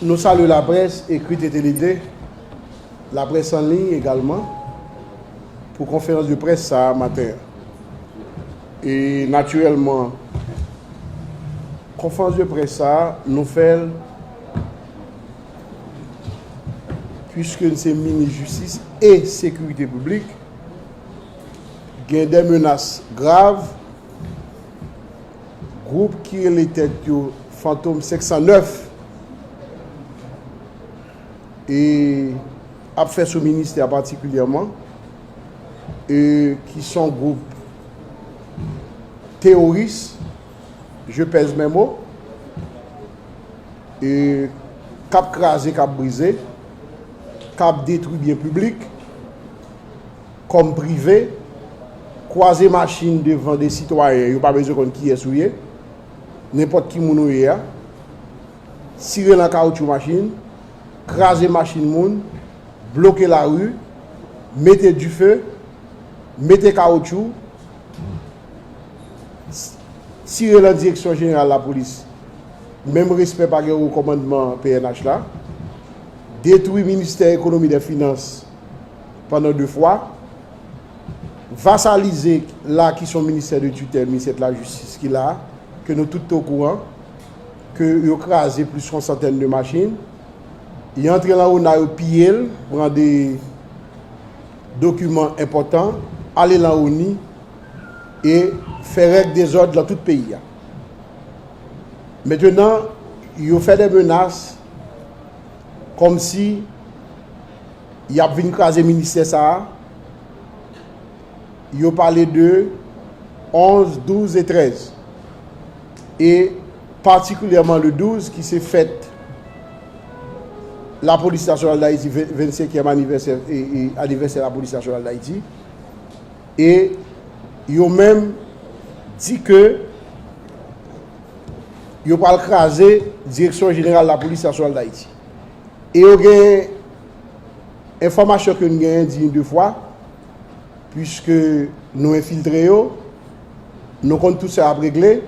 Nou salye laprès ekrit e telede, laprès an liy egalman pou konferans de près sa a maten an. E natirèlman konferans de près sa a nou fè l puiske n se minis jistis e sekirite piblik gen de menas grav Gwoup ki rele tèt yo Fantom 509 e ap fè sou ministè a patikilyèman e ki son gwoup teworis, je pèse mes mots, e k ap kraze, k ap brize, k ap detwi byen piblik. Kòm prive, kwaze machin devan de sitwayen yo pa bezwen konn kiyès ou ye, nenpòt ki moun ou ye a, tire nan kawoutchou machin, kraze machin moun, bloke lari, mete dife, mete kawoutchou, tire nan direksyon jeneral lapolis, menm respè pa gen o kòmandman pnh la, detwi ministè ekonomi dè finans, pandan 2 fwa, vasalize la ki son ministè de tutèl ministè de la justice ki la, ke nou tout te o kouran, ke yo kraze plis yon santèn de machin, yo antre lan ona yo piye l, pran de dokiman enpòtan, ale lan oni, e fè règ dezòd lan tout peyi a. Mentenan, yo fè de menas, kòm si, yap vin kraze ministè sa a, yo pale de 11, 12 e 13. E patikilyèman le 12 ki se fèt la polis nasyonal dayiti, 25 yèm anivèsè anivèsè la polis nasyonal dayiti. E yo menm di ke yo pral kraze direksyon jeneral la polis nasyonal dayiti. E yo gen enfòmasyon ke nou genyen di yon de fwa, pwiske nou enfiltre yo, nou konn tout sa ap regle,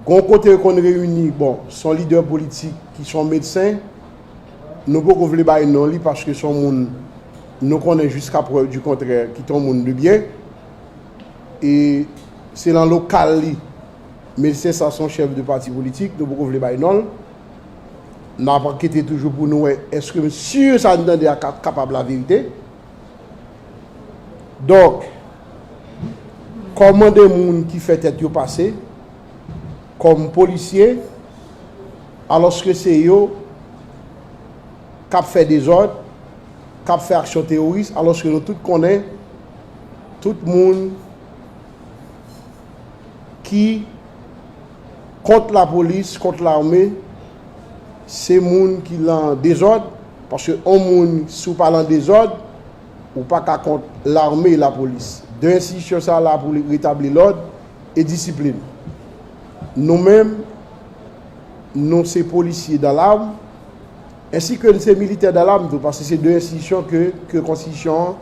gon kote yo konn reyini, bon, son lidè politik ki son medsen, nou poko vle bay non li paske son moun nou konnen jiska prèv di kontrè ki ton moun de byen, e se lan lokal li Medsen sa son chèf de pati politik, nou poko vle bay non l. N ap ankete toujou pou nou wè eske m sur sa n tande a ka kapab laverite. Donk, kòman de moun ki fè tèt yo pase kòm polisye alòske se yo k ap fè dezòd, k ap fè aksyon teworis alòske nou tout konnen tout moun ki kont lapolis, kont lame, se moun ki lan dezòd, paske on moun si w pa lan dezòd, ou pa ka kont lame e lapolis. De enstitisyon sa la pou retabli lòd e disiplin. Nou menm, nou se polisye dan lame, ensi ke n se militè dan lame tou, paske se de enstitisyon ke konstitisyon an.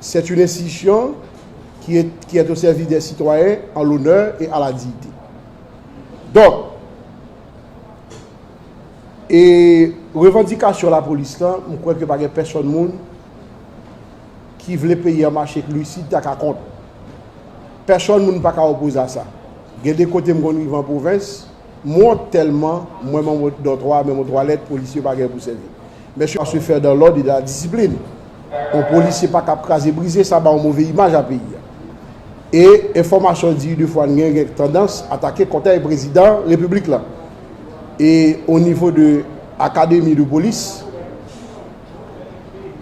c'est une institution qui est qui est au service des citoyens en l'honneur et à la dignité. Donk, e revandikasyon lapolis lan, m kwè ke pa gen pèsòn moun ki vle peyi an mache k lusid ki ta ka kont. Pèsòn moun pa ka opoze a sa. Gen de kote m konn rive an pwovens, Mort telman mwen man mwen dan 3 men mwen twalèt polisye pa gen pou sèvi mèsi a se fè dan lòd e la disiplin on polisye pa kap kraze brize sa ba on move imaj a peyi a e enfòmasyon di de fwa gen gen tandans atake kòtèy prezidan repiblik la e on nivo de akademi de polis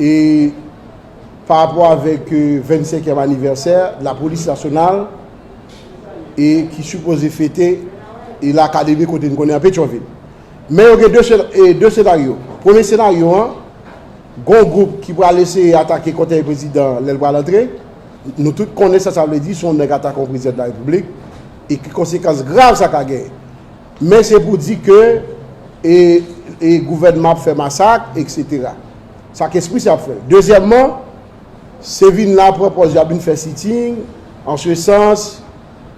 e. pa rapò avèk 25 èm anivèsè lapolis nasyonal e ki sipoze fete e lakademi kote n konnen an Petyonvil. Men yo gen 2 senaryo. Premye senaryo an, gon gwoup ki pral eseye atake kòtèy prezidan an lè l pral antre. Nou tout konnen sa sa vle di si yon nèg atake yon prezidan de la repiblik e ki konsekans grav sa ka genyen. Men se pou di ke e gouvènman ap fè masak eksetera. Sa kespri sa ap fè. Dezyèmman, se vin la pran pòz yo ap vin fè sitting an se sans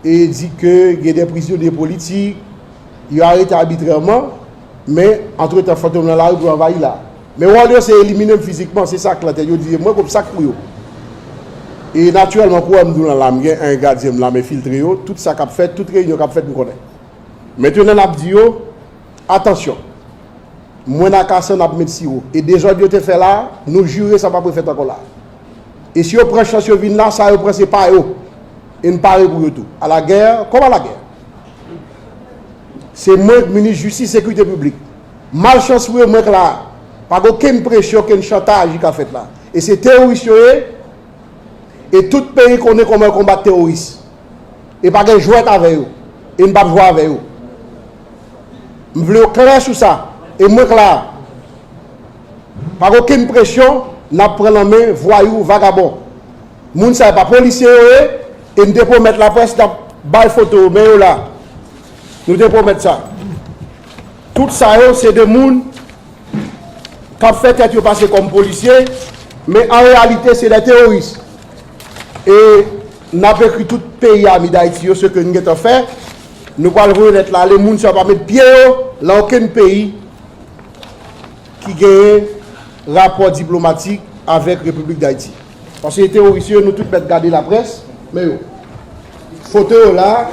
e di ke gen de prizonye politik yo arete abitrèman men antretan fantom nan lari pou yo anvayi la. Men wòl yo se elimine m fizikman, se sa klan tèt yo di e mwen kòm sak pou yo. E natirèlman kou wè m di w lan la m gen 1 gadyen m lame filtre yo, tout sa k ap fèt, tout reyinyon k ap fèt m konnen. Mentenan n ap di yo. Atansyon! Mwen ak Asann ap met siwo. E dezòd yo te fè la a, nou jire sa pap refèt ankò la a. E si yo pran chans yo vin la a, sa yo pran se pa yo. E n pare pou yo tou. A la gè, kòm a la gè! Se mwen k minis jistis sekirite piblik. Malchans pou yo, mwen k la a. Pa gen okenn presyon, okenn chantaj ki ka fèt la a. E se teworis yo ye, e tout peyi konnen kòman yo konbat teworis. e pa gen jwèt avè yo e m pap jwe avè yo m vle yo klè sou sa e mwen klè a pa gen okenn presyon nap pran nan men vwayou vagabon moun sa yo pa polisye yo ye e m te pwomèt laprès nap bay foto yo men yo la nou te pwomèt sa tout sa yo se de moun kap fè tèt yo pase kòm polisye men an reyalite se de teworis e. Nap ekri tout peyi ami dayiti yo seke nou gentan fè nou pral voye lèt la ale moun sa yo pa met pye yo lan okenn peyi ki genyen rapò diplomatik avèk repiblik dayiti paske teworis yo nou tout mèt gade laprès men yo foto yo la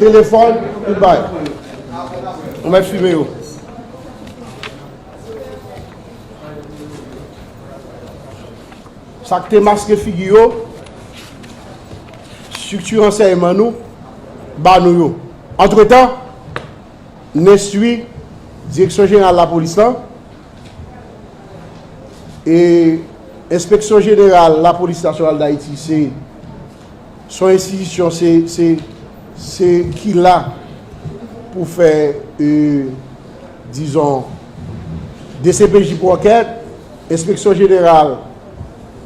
telefòn tout bagay nou mèt fime yo. Sa k te maske figi yo, strikti ransèyman nou ba nou yo. Antretan, n enstwi Direksyon Jeneral Lapolis lan e Enspeksyon Jeneral Lapolis Nasyonal Dayiti se yon enstitisyon se ki la pou fè dizon dcpj pou ankèt. Enspeksyon Jeneral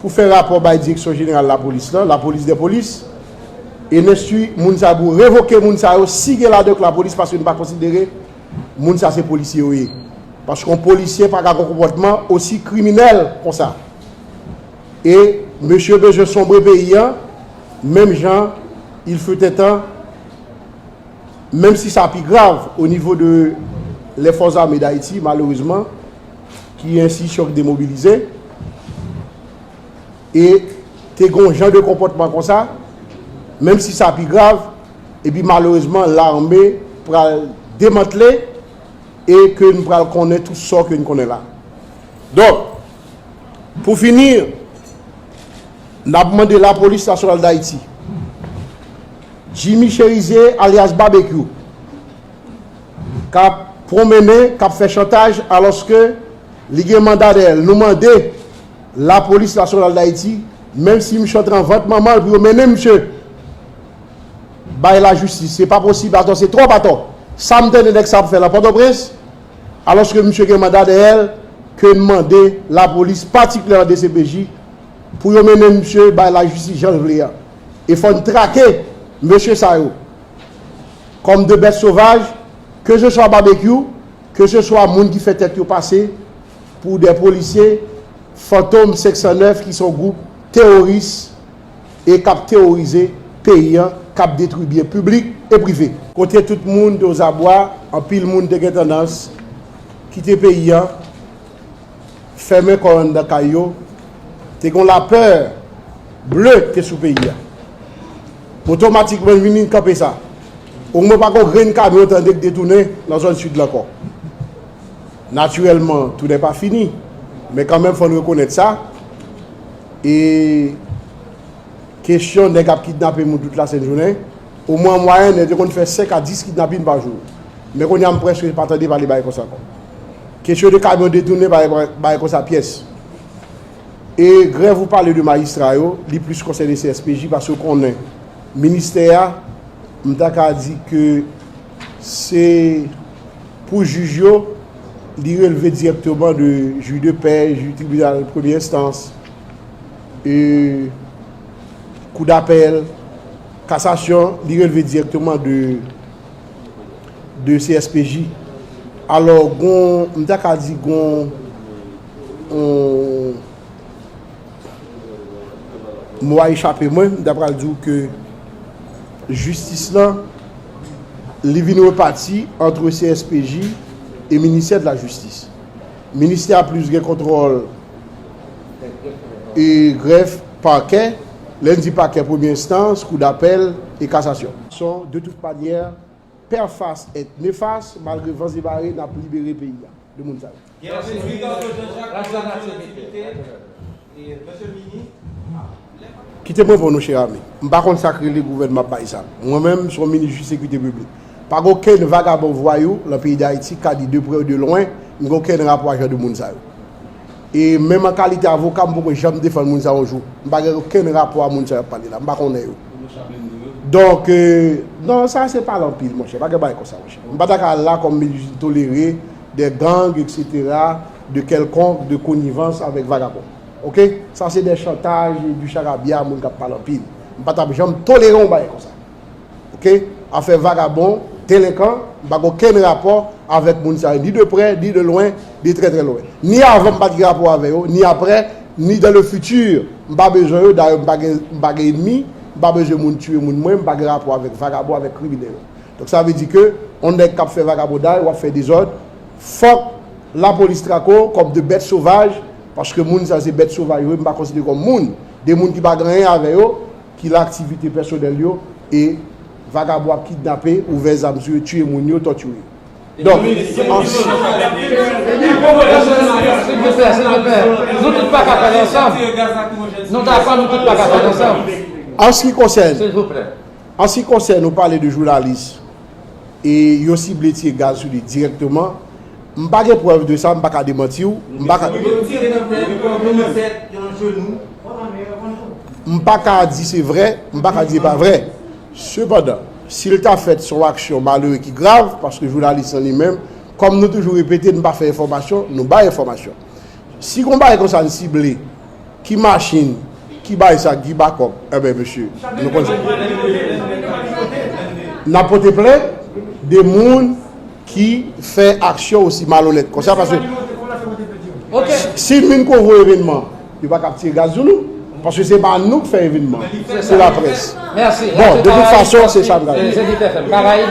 pou fè rapò bay Direksyon Jeneral Lapolis la, la police des polices, e n enstwi moun sa pou revoke moun sa yo si gen ladan yo k Lapolis paske n pa konsidere moun sa se polisye yo ye. Paske yon polisye pa ka gen yon konpòtman osi kriminèl konsa. E mesye bezwen sonbre peyi an menm jan il fut un temps menm si sa pi grav o nivo de les forces armées d'Haiti malerezman. ki yon enstitisyon ki demobilize, e te gen yon jan de konpòtman konsa, menm si sa pi grav, e pi malerezman lame pral demantle, e ke nou pral konnen tout sò ke nou konnen la. Donk, pou fini, n ap mande la polis nasyonal Dayiti, Jimmy Cherizier alyas Babekyou, K ap pwonmennen, k ap fè chantaj alòske li gen manda dèyè l. Nou mande Lapolis Nasyonal Dayiti, menm si misye antre anvant manman l, pou yo mennen misye bay lajistis. Se pa posib atò, se twòp atò. Sa m tande nèg sa ap fè lan Pòtoprens, alòske misye gen manda dèyè l, ke n mande Lapolis, patikilyèman dcpj, pou yo mennen misye bay lajistis jan l vle an. E fò n trake mesye sa yo. Kòm de bèt sovaj, ke se swa Babekyou, ke se swa moun ki fè tèt yo pase pou de polisye, Fantom 509 ki se yon gwoup teworis e k ap teworize peyi an, k ap detwi byen piblik e prive. Kote tout moun te ozabwa, anpil moun te gen tandans kite peyi an, fèmen kò yo anndan kay yo, te gen yon lapè ble ki te sou peyi an. Poto matik mwen vini kanpe sa. O mwen pa gon grenn kamyon tande k detounen nan zòn Sid la ankò. Natirèlman, tounen pa fini, men kanmenm fò n rekonèt sa, e kesyon nèg ap kidnape moun tout lasent jounen, o mwen an mwayèn yo te konn fè 5 a 10 kidnapin pa jou, men kounye a m prèske pa tande pale bagay konsa ankò. Kesyon de kamyon detounen pa bagay konsa pyès. E grèv ou pale de majistra yo, li plis konsène CSPJ paske ou konnen ministè a, m ta ka di ke se pou jij yo, li releve dirèkteman de jij de pè, jij tribinal premye enstans, e kou dapèl, kasasyon, li releve dirèkteman de CSPJ. Alò, m ta ka di gon Mo a echape mwen, m ta pral di w ke jistis lan li vin repati antre CSPJ e ministè de la jistis. Ministè a plis gen kontwòl e grèf, pakè, lè n di pakè premye enstans, kou dapèl e kasasyon. De tout manyè, père Fass est néfaste, malgre vans e mare n ap libere peyi a de moun sa yo. Gen yon seri de moun. Kite m reponn ou chè ami. M pa konn sa k rele gouvènman ap bay zam. Mwen menm, se yon minis jis sekirite piblik. Pa gen okenn vagabon vwayou lan peyi Dayiti ka di de prè ou de lwen m gen okenn rapò ak jan de moun sa yo. E menm an kalite avoka m poko janm defann moun sa yo yon jou. M pa gen okenn rapò a moun sa y ap pale la. M pa konnen yo. Donk, non sa se pale anpil monchè. Pa gen bagay konsa monchè. M pa ta ka al la kòm minis jis m tolere. Des gangs etc de quelconque de connivence avec vagabond ok sa se des chantages et du charabia moun kap pale anpil m pa tap janm tolere yon bagay konsa ok afè vagabond delinkan m pa gen okenn rapò avek moun sa yo ni de près ni de loin de très très loin ni avan m pat gen rapò avè yo ni aprè ni dans le futur m pa bezwen yo dayè m pa gen m pa gen enemi m pa bezwen moun tiye moun mwen m pa gen rapò avek vagabond avek kriminel. Donk sa vle di ke on nèg kap fè vagabondaj, wap fè dezòd, fòk la polis trake w kòm de bèt sovaj, paske moun sa se bèt sovaj yo, m pa konsidere kòm moun, de moun ki pa gen anyen avè yo, ki lan aktivite pèsonèl yo, e vagabon ap kidnape, ouvè zam sou yo, tiye moun yo, tòtire yo. Donk, an s ki konsène An si konsène ou pale de jounalis e yo sible tire gaz sou li dirèkteman, m pa gen prèv de sa, m pa ka demanti w, m pa ka. Yo tire nan tèt, nan lizèt, nan jenou. M pa ka di se vrè, m pa ka di se pa vrè. Sepandan, si l ta fèt se yon aksyon malere ki grav, paske jounalis lan li menm, kòm nou toujou repete n pa fè enfòmasyon, nou bay enfòmasyon. Si gon bagay konsa n sible. Ki machin ki bay sa Guy Backup enben mesye nou konn sa n ap pote plent de moun ki fè aksyon osi malonèt konsa paske si n vin kouvri evenman yo pa ka ap tire gaz sou nou paske se pa nou k fè evenman se laprès bon de tout fason se sa n ta di Karaib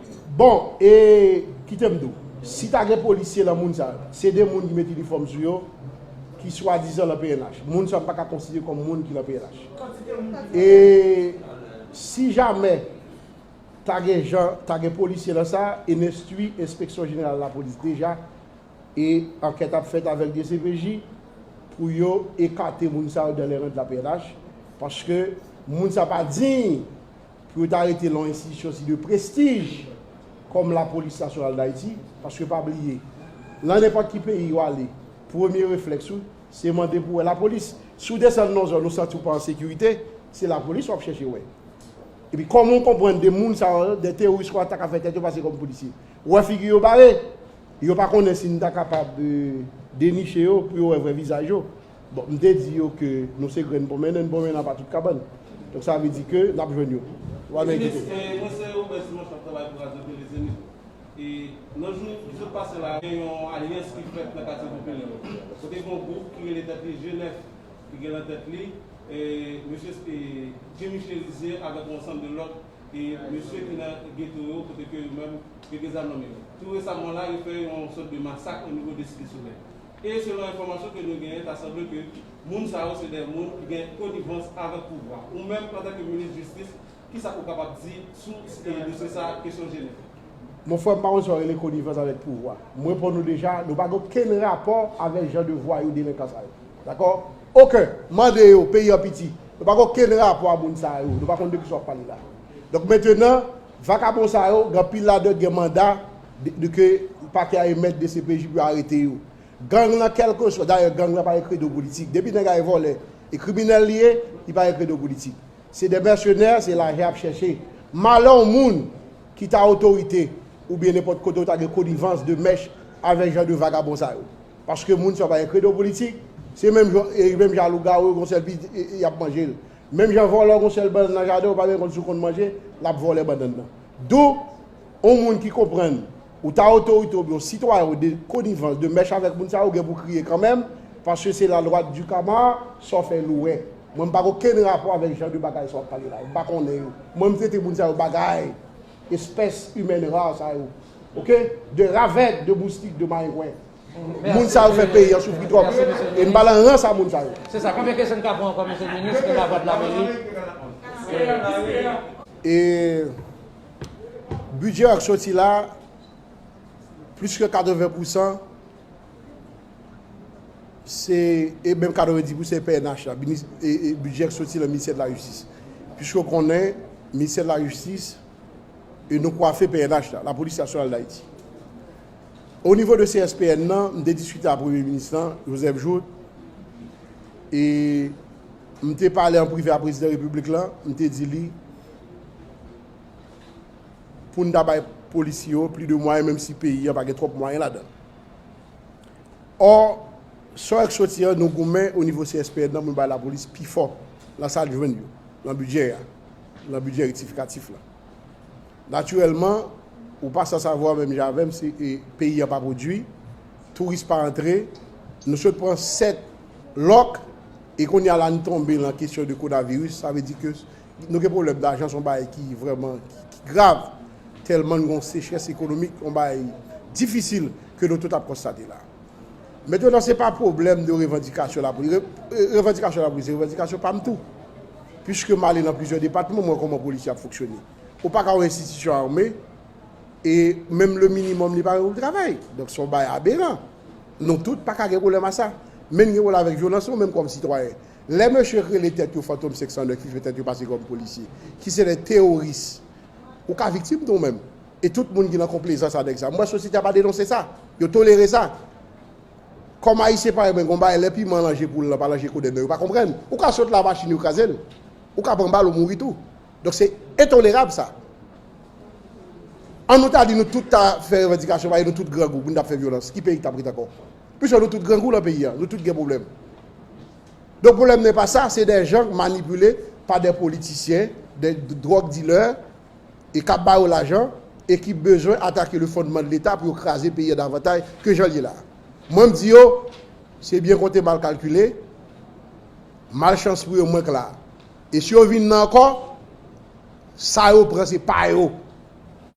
Bon e kitem di w si ta gen polisye lan moun sa yo se de moun ki met inifòm sou yo ki swadizan lan pnh moun sa yo m paka konsidere kòm moun ki lan pnh e si jamè ta gen jan ta gen polisye lan sa e n enstwi enspeksyon jeneral lapolis deja e ankèt ap fèt avèk dcpj pou yo ekate moun sa yo dan lè rèd lan pnh paske moun sa pa diy Pou yo ta rete lan yon enstitisyon si de prestij kòm Lapolis Nasyonal Dayiti, paske pa bliye, lan nenpòt ki peyi ou ale, premye reflèks ou, se mande pou wè Lapolis. Si ou desann lan zòn ou santi ou pa an sekirite, se Lapolis wap chèche wè. Epi kòman ou konprann de moun sa yo, de teworis sa yo ta ka fè tèt yo pase kòm polisye? Ou wè figi yo bare? Yo pa konnen si nou ta kapab deniche yo pou yo wè vrè vizaj yo. Bon, m te di yo ke nou se grenn ponmen, nen ponmen nan pa tout kabann. Donk sa vle di ke n ap jwenn yo. Wa men kite. Minis, mwen se Robert Simon k ap travay pou radyo tele Zenith. E nan jou ki sot pase la, gen yon alyans ki fèt nan katye popilè yo. Kote gen yon gwoup ki rele tèt li G9 ki gen nan tèt li mesye Jimmy Cherizier avèk yon ansanm de lòt mesye ki nan geto yo kote ke yo menm yo gen zam nan men yo. Tou resaman la, yo fè yon sòt de masak onivo de Site Solèy. E selon enfòmasyon ke nou genyen ta sanble ke moun sa yo se de moun ki gen konivans avèk pouvwa. Ou menm antan ke minis jistis kisa ou kapab di sou dosye sa kesyon Genève? Mon frè m pa konn sa w rele konivans avèk pouvwa. M reponn ou deja, nou pa gen okenn rapò avèk jan de vwayou delenkan sa yo. Dakò? Oken! Mande yo, peyi an piti. Nou pa gen okenn rapò a moun sa yo. Nou pa konn de kisa w ap pale la. Donk mentenan. Vakabon sa yo, gen anpil ladan gen manda de ke pakè a emèt dcpj pou yo arete yo. Gang lan kelkeswa, dayè gang lan pa gen kredo politik. Depi nèg a e vòlè, e kriminèl li ye, li pa gen kredo politik. Se de mèsenè, se lajan yap chèche. Malè yon moun ki ta otorite oubyen nenpòt kote ou ta gen konivans de mèch avèk jan de vagabon sa yo. Paske moun sa yo pa gen kredo politik, se menm jan, menm jan a lougawou yo gon sèl pi yap manje l. Menm jan vòlò gon sèl bannann nan jaden ou pa menm konn si ou konn manje lap vòlè bannann nan. Dou on moun ki konprann ou ta otorite oubyen on sitwayen ou de konivans, de mèch avèk moun sa yo ou gen pou kriye kanmenm paske se la lwa du kama sa w fè nou wè. Mwen m pa gen okenn rapò avèk jan de bagay sa wap pale la yo. M pa konnen yo. Mwen m trete moun sa yo bagay, espèce humaine rare sa yo. Ok? De ravèt, de moustik, de marengwen. Moun sa yo fè peyi an soufri twòp e m pa lan rans a moun sa yo. Se sa, konbyen kesyon n ka pran ankò mesye minis ke lavwa dla meri? E bidjè an k soti la a plis ke 80 pousan se e menm 90 pousan se pnh la bidjè an k soti lan ministè de la jistis piske w konnen ministè de la jistis e nou kwafe pnh la la polis nasyonal dayiti O nivo de CSPN nan, m te diskite ak Premye Minis lan, Joseph Jouthe, e m te pale an prive ak Prezidan Repiblik la, m te di li pou n ta bay polisye yo plis de mwayen menm si peyi an pa gen twòp mwayen ladan l. Ò, sò yo k soti an, nou goumen o nivo CSPN nan pou n bay lapolis pifò nan sa l jwenn yo, nan bidjè a, nan bidjè rektifikatif la. Natirèlman, ou pa san savwa menm jan avè m si peyi an pa pwodui, touris pa antre, nou sot pran 7 lòk e kounye a la n tonbe lan kesyon de konaviris, sa vle di ke nou gen pwoblèm dajan, se yon bagay ki vrèman ki grav tèlman n gen yon sechrès ekonomik, yon bagay difisil ke nou tout ap konstate la. Metenan se pa pwoblèm de revandikasyon la polis, revandikasyon la polis se revandikasyon pa m tou. Piske m ale nan plizyè depatman m wè kòman polis yo ap foksyone. Ou pa ka wè enstitisyon ame e menm le minimòm li pa gen pou l travay. Donk son bagay aberan. Nou tout pa ka gen pwoblèm a sa. Men n gen pwoblèm avèk vyolans nou menm kòm sitwayen. Lè mesye k rele tèt yo fantom 509 ki fè tèt yo pase kòm polisye, ki se de teworis, ou ka viktim tou menm. E tout moun ki nan konplezans a nèg sa. M wè sosyete a pa denonse sa. Yo tolere sa. Kòm Ayisyen parèy mwen gen yon bagay lè piman lan je poul lan pa lan je kodenn nan yo pa konprann. Ou ka sot la machin yo kraze l. Ou ka pran bal ou mouri tou. Donk se entolerab sa. An nou ta di nou tout ta fè revandikasyon paske nou tout grangou pou nou ta fè vyolans. Ki peyi k tap ret ankò? Plis fò nou tout grangou lan peyi a. Nou tout gen pwoblèm. Donk pwoblèm nan e pa sa. Se dè jan k manipile pa dè politisyen, dè dwòg dilè. e kap ba yo lajan e ki bezwen atake le fondman de leta pou yo kraze peyi an davantay ke jan l ye la. Mwen m di yo se byen konte mal kalkile, mal chans pou yo mwen k la. E si yo vin nan ankò, sa yo pran se pa yo.